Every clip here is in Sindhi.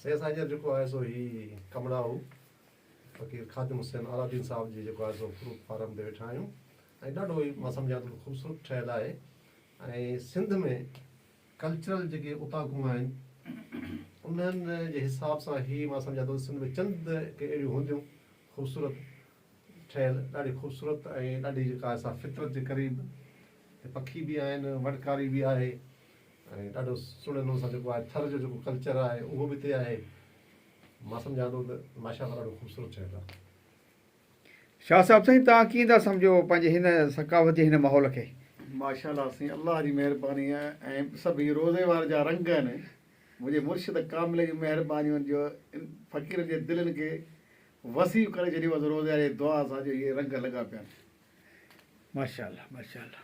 سيد سائين جا جيڪو آهي سو هي ڪمرا هو فقير خادم حسين عالادين صاحب جي جيڪو آهي سو فروٽ فارم تي ويٺا آهيون ۽ ڏاڍو هي مان سمجهان ٿو خوبصورت ٺهيل آهي ۽ سنڌ ۾ ڪلچرل جيڪي اوطاقون آهن انهن جي حساب سان هي مان سمجهان ٿو سنڌ ۾ چند ڪي اهڙيون هونديون خوبصورت ٺهيل ڏاڍي خوبصورت ۽ ڏاڍي جيڪا آهي سا فطرت جي قريب پکي به آهن وڏڪاري به آهي ۽ ڏاڍو سھڻي نموني سان جيڪو آھي ٿر جو جيڪو ڪلچر آھي اھو به ھتي آھي مان سمجھان ٿو ته ماشاء الله ڏاڍو خوبصورت ٺھيل آھي. شاھ صاحب سائين توھان ڪيئن ٿا سمجھو پنھنجي ھن ثقافتي ھن ماحول کي. ماشاء الله سائين الله جي مھرباني آھي ۽ سڀ ھي روضي وارن جا رنگ آھن منھنجي مرشد ڪامل جون مھربانيون آھن جو ان فقيرن جي دلين کي وسيع ڪري ڇڏيو اٿس روضي واري جي دعا سان جو ھي رنگ لڳا پيا آھن. ماشاء الله ماشاء الله.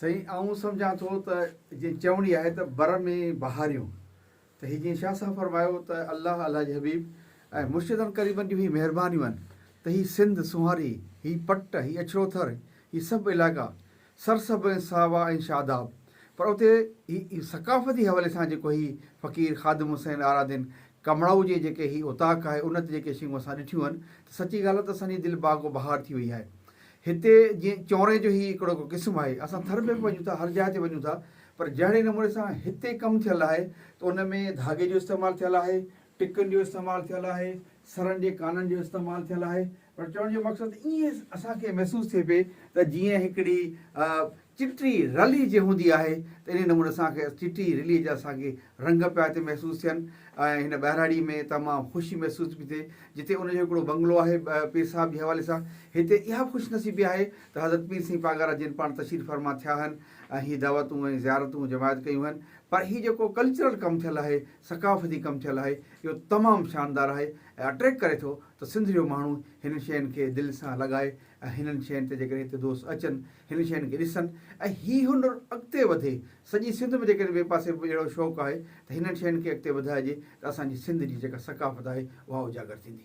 سائين آئون سمجهان ٿو ته جئين چوڻي آهي ته بر ۾ بهاريون ته هي جئين شاهه صاحب فرمايو ته الله الله جي حبيب ۽ مرشدن قريبن جون هي مهربانيون آهن ته هي سنڌ سونهاري هي پٽ هي اڇڙو ٿر هي سڀ علائقا سر سڀ ۽ ساوا ۽ شاداب پر اتي هي ثقافتي حوالي سان جيڪو هي فقير خادم حسين آرادين ڪمڙائو جي جيڪي هي اوطاق آهي ان تي جيڪي شيون اسان ڏٺيون آهن ته سچي ڳالهه ته اسان جي دل باغ و بهار ٿي وئي آهي هتي جيئن چونري جو هي هڪڙو ڪو قسم آهي، اسان ٿر ۾ به وڃون ٿا، هر جاء تي وڃون ٿا، پر جهڙي نموني سان هتي ڪم ٿيل آهي ته ان ۾ ڌاڳي جو استعمال ٿيل آهي، ٽڪن جو استعمال ٿيل آهي، سرن جي ڪانن جو استعمال ٿيل آهي، پر چوڻ جو مقصد ائين اسان کي محسوس ٿئي پئي ته جيئن هڪڙي چٽي رلي جي هوندي آهي ته انهي نموني اسان کي چٽي رلي جا ساڳي رنگ پيا هتي محسوس ٿين ۽ هن ٻهراڙي ۾ تمام خوشي محسوس پي ٿئي جتي ان جو هڪڙو بنگلو آهي پير صاحب جي حوالي سان هتي اها خوش نصيبي آهي ته حضرت پير سين پاڳارا جن پاڻ تشريف فرما ٿيا هن ۽ هي دعوتون ۽ زيارتون جماعت ڪيون هن پر هي جيڪو ڪلچرل ڪم ٿيل آهي ثقافتي ڪم ٿيل آهي اهو تمام شاندار آهي ۽ اٽريڪ ڪري ٿو ته سنڌ جو ماڻهو هنن شين کي دل سان لڳائي ۽ هنن شين تي جيڪڏهن هتي دوست اچن، هنن شين کي ڏسن ۽ هي هنر اڳتي وڌي، سڄي سنڌ ۾ جيڪڏهن ٻئي پاسي به اهڙو شوق آهي ته هنن شين کي اڳتي وڌائجي ته اسان جي سنڌ جي جيڪا ثقافت آهي اها اجاگر ٿيندي.